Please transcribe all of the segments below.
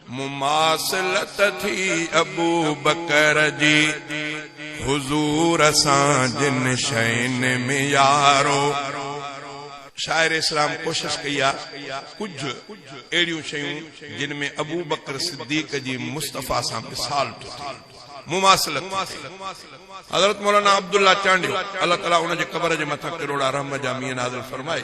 مماثلت ٿي ابوبڪر جي حضور سان جن شين ۾ يارو! شاعر اسلام ڪوشش ڪئي آ ڪجهه اهڙيون شيون جن ۾ ابوبڪر صديق جي مصطفيٰ سان مثال ٿو ٿئي، مماثلت ٿي ٿئي. حضرت مولانا عبدالله چانڊيو الله تعالي ان جي قبر جي مٿان ڪروڙا رحم جا مينهن نازل فرمائي.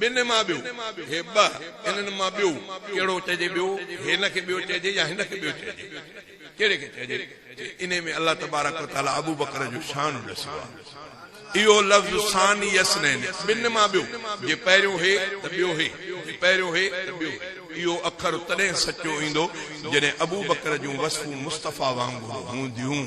ٻن مان ٻيو، هي ٻه، انهن مان ٻيو، ڪهڙو چئجي ٻيو، هن کي ٻيو چئجي يا هن کي ٻيو چئجي، ڪهڙي کي چئجي، انهي ۾ الله تبارڪ و تعالي ابوبڪر جو شان ڏسيو آهي. اهو لفظ ثاني اثنين، ٻن مان ٻيو، جي پهريون هي ته ٻيو هي، جي پهريون هي ته ٻيو هي، اهو اکر تڏهن سچو ايندو جڏهن ابوبڪر جون وصفون مصطفيٰ وانگر هونديون.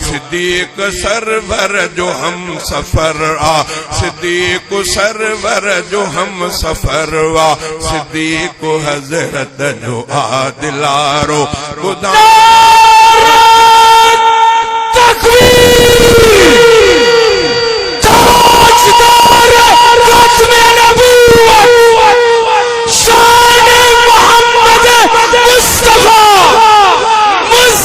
صديق سرور جو هم سفر آ صديق سرور جو هم سفر آ صديق حضرت جو آ دلارو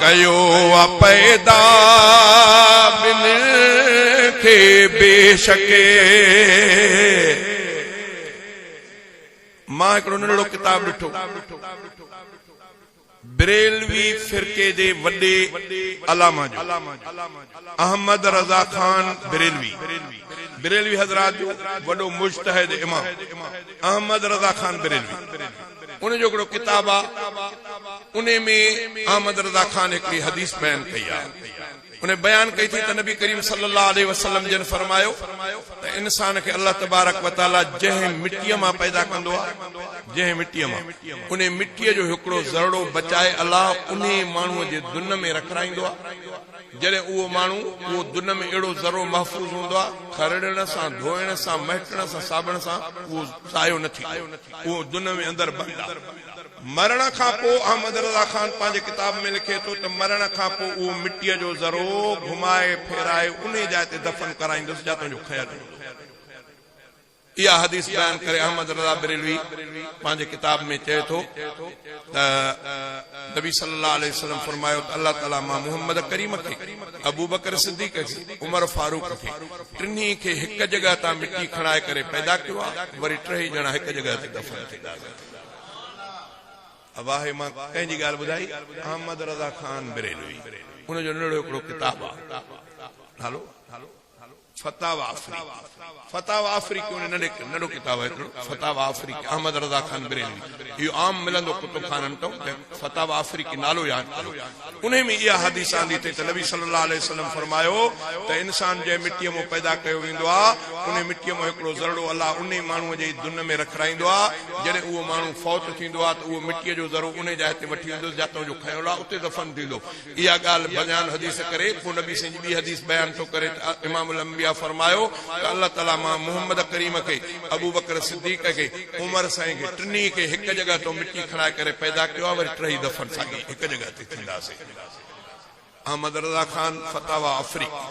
ڪيو آ پيدا ٻن کي بيشڪ مان هڪڙو ننڍڙو ڪتاب ڏٺو بريلوي فرقي جي وڏي علامه جو احمد رضا خان بريلوي بريلوي حضرات جو وڏو مجتهد امام احمد رضا خان بريلوي ان جو هڪڙو ڪتاب آ انهي ۾ احمد رضا خان هڪڙي حديث بيان ڪئي آ انهي بيان ڪئي ٿي ته نبي ڪريم صلي الله عليه وسلم جن فرمايو ته انسان کي الله تبارڪ وتعالي جنهن مٽي مان پيدا ڪندو آ جنهن مٽي مان انهي مٽي جو هڪڙو ذرڙو بچائي الله انهي ماڻهو جي دن ۾ رکرائيندو آ جڏهن اهو ماڻهو، اهو دنه ۾ اهڙو ذرو محفوظ هوندو آهي، کرڙڻ سان، ڌوئڻ سان، مهٽڻ سان، ساٻڻ سان اهو ضايع نه ٿيندو. اهو دنه ۾ اندر بند آهي. مرڻ کان پوء احمد رضا خان پنهنجي ڪتاب ۾ لکي ٿو ته مرڻ کان پوء اهو مٽيء جو ذرو گهمائي ڦيرائي انهي جاء تي دفن ڪرائيندس جتان جو کنيل هوندو. اها حديث بيان ڪري احمد رضا بريلوي پنهنجي ڪتاب ۾ چئي ٿو ته نبي صلي الله عليه وسلم فرمايو ته الله تعالي مان محمد ڪريم کي، ابوبڪر صديق کي، عمر فاروق کي ٽنهي کي هڪ جڳهه تان مٽي کڻائي ڪري پيدا ڪيو آهي وري ٽيئي ڄڻا هڪ جڳهه تي دفن ٿي ڳاڙيا ويندا آهي مان ڪنهن جي ڳالهه ٻڌائي احمد رضا خان بريلوي ان جو نڙيو هڪڙو ڪتاب آهي نالو فتاويٰ آفريقي، فتاويٰ آفريقي اهو ننڍي ننڍو ڪتاب آهي هڪڙو فتاويٰ آفريقي احمد رضا خان بريلوي اهو عام ملندو ڪتب خانن تئون ته فتاويٰ آفريقي نالو ياد ڪريو انهي ۾ اها حديث آندي اٿئي ته نبي صلي الله عليه وسلم فرمايو ته انسان جنهن مٽيء مان پيدا ڪيو ويندو آ انهي مٽيء مان هڪڙو ذرڙو الله انهي ماڻهوء جي دن ۾ رکرائيندو آ جڏهن اهو ماڻهو فوت ٿيندو آ ته اهو مٽيء جو ذرو انهي جاء تي وٺي ويندوس جاتئون جو کنيو آ اتي دفن ٿيندو اها ڳالهه بنيان حديث ڪري پوء نبي سائين جي ٻي حديث بيان ٿو ڪري ته امام الانبياء فرمايو ته الله تعاليٰ مان محمد ڪريم کي، ابوبڪر صديق کي، عمر سائين کي ٽنهي کي هڪ جڳهه تان مٽي کڻائي ڪري پيدا ڪيو آهي وري ٽهي دفن ساڳي هڪ جڳهه تي ٿينداسين. احمد رضا خان، فتاويٰ آفريقي.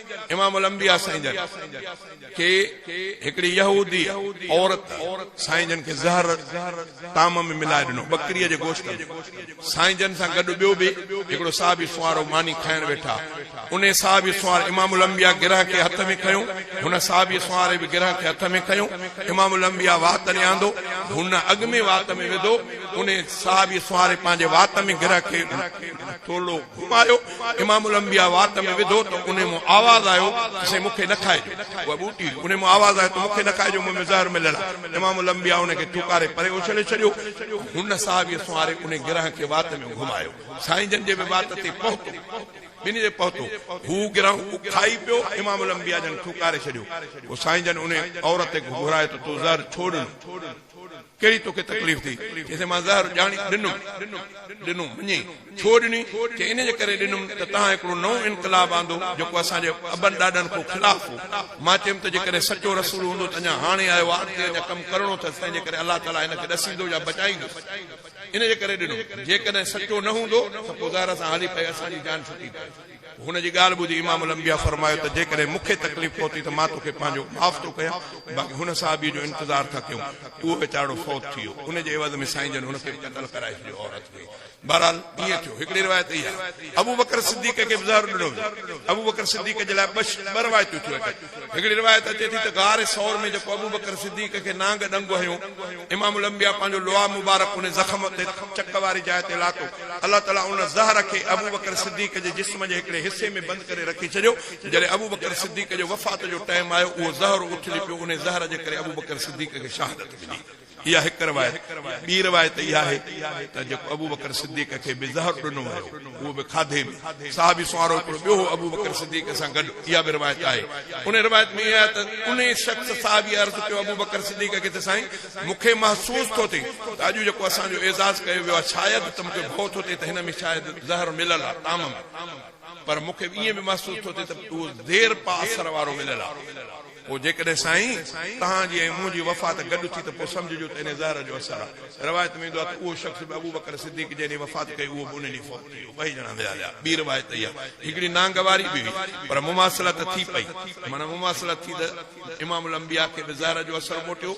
امام الانبياء سائين جن کي هڪڙي يهودي عورت سائين جن کي زهر طعام ۾ ملائي ڏنو ٻڪريء جي گوشت ۾، سائين جن سان گڏ ٻيو به هڪڙو صحابي سوارو ماني کائڻ ويٺا، انهي صحابي سوار امام الانبياء گرهه کي هٿ ۾ کنيو، هن صحابي سواري به گرهه کي هٿ ۾ کنيو، امام الانبياء وات ڏي آندو، هن اڳ ۾ وات ۾ وڌو، انهي صحابي سواري پنهنجي وات ۾ گرهه کي ٿورڙو گهمايو، امام الانبياء وات ۾ وڌو ته انهي مان آواز آيو ته سائين مون کي نه کائجو، اها ٻوٽي هئي، انهي مان آواز آيو ته مون کي نه کائجو، مون ۾ زهر مليل آهي، امام الانبياء ان کي ٿوڪاري پري اڇلي ڇڏيو ۽ هن صحابيء سنواري انهي گرهه کي وات ۾ گهمايو، سائين جن جي به وات تي پهتو، ٻنهي تي پهتو، هو گرهه کائي پيو، امام الانبياء جن ٿوڪاري ڇڏيو، پوء سائين جن انهي عورت کي گهرايو ته تو زهر ڇو ڏنو؟ ڪهڙي توکي تڪليف ٿي؟ چيسين مان زهر ڄاڻي ڏنم. ڏنو مڃي ڇو ڏني؟ چي ان جي ڪري ڏنم ته توهان هڪڙو نئون انقلاب آندو جيڪو اسان جي ابن ڏاڏن کان خلاف هو. مان چيم ته جيڪڏهن سچو رسول هوندو ته اڃا هاڻي آيو ها اڳتي اڃا ڪم ڪرڻو اٿس تنهن جي ڪري الله تعاليٰ هن کي ڏسيندو يا بچائيندو ان جي ڪري ڏنم. جيڪڏهن سچو نه هوندو ته پوء زهر سان هلي پئي اسان جي جان ڇٽي پئي. هن جي ڳالهه ٻڌي امام الانبياء فرمايو ته جيڪڏهن مون کي تڪليف پهتي ته مان توکي پنهنجو معاف ٿو ڪيان باقي هن صحابي جو انتظار ٿا ڪيون اهو ويچارڙو فوت ٿي ويو ان جي عيوض ۾ سائين جن هن کي به قتل ڪرائي ڇڏيو عورت کي بهرحال ائين ٿيو هڪڙي روايت اهي آهي ابوبڪر صديق کي به زهر ڏنو ويو ابوبڪر صديق جي لاء ٻه روايتون ٿيون اچن هڪڙي روايت اچي ٿي ته غار ثور ۾ جيڪو ابوبڪر صديق کي نانگ ڏنگ هنيو، امام الانبياء پنهنجو لواء مبارڪ ان زخم تي، چڪ واري جاء تي، لاتو. الله تعاليٰ ان زهر کي ابوبڪر صديق جي جسم جي هڪڙي حصي ۾ بند ڪري رکي ڇڏيو، جڏهن ابوبڪر صديق جي وفات جو ٽائيم آيو، اهو زهر اٿلي پيو، انهي زهر جي ڪري ابوبڪر صديق کي شهادت ملي. اها هڪ روايت، ٻي روايت اها آهي ته جيڪو ابوبڪر صديق کي به زهر ڏنو ويو اهو به کاڌي ۾، صحابي سوارو هڪڙو ٻيو هو ابوبڪر صديق سان گڏ، اها به روايت آهي. انهيء روايت ۾ اها آهي ته انهيء شخص صحابيء عرض ڪيو ابوبڪر صديق کي ته سائين! مون کي محسوس ٿو ٿئي ته اڄ جيڪو اسان جو اعزاز ڪيو ويو آهي شايد ته مون کي ڀؤ ٿو ٿئي ته هن ۾ شايد زهر مليل آهي طعام ۾، پر مون کي ائين به محسوس ٿو ٿئي ته اهو زير پا اثر وارو مليل آهي. پوء جيڪڏهن سائين توهان جي ۽ منهنجي وفات گڏ ٿي ته پوء سمجهجو ته انهيء زهر جو اثر آهي. روايت ۾ ايندو آهي ته اهو شخص به ابوبڪر صديق جنهن ڏينهن وفات ڪئي اهو به ان ڏينهن فوت ٿي ويو. ٻئي ڄڻا ويا هيا. ٻي روايت اهي آهي هڪڙي نانگ واري به هئي پر مماثلت ٿي پئي معنيٰ مماثلت ٿي ته امام الانبياء کي به زهر جو اثر موٽيو.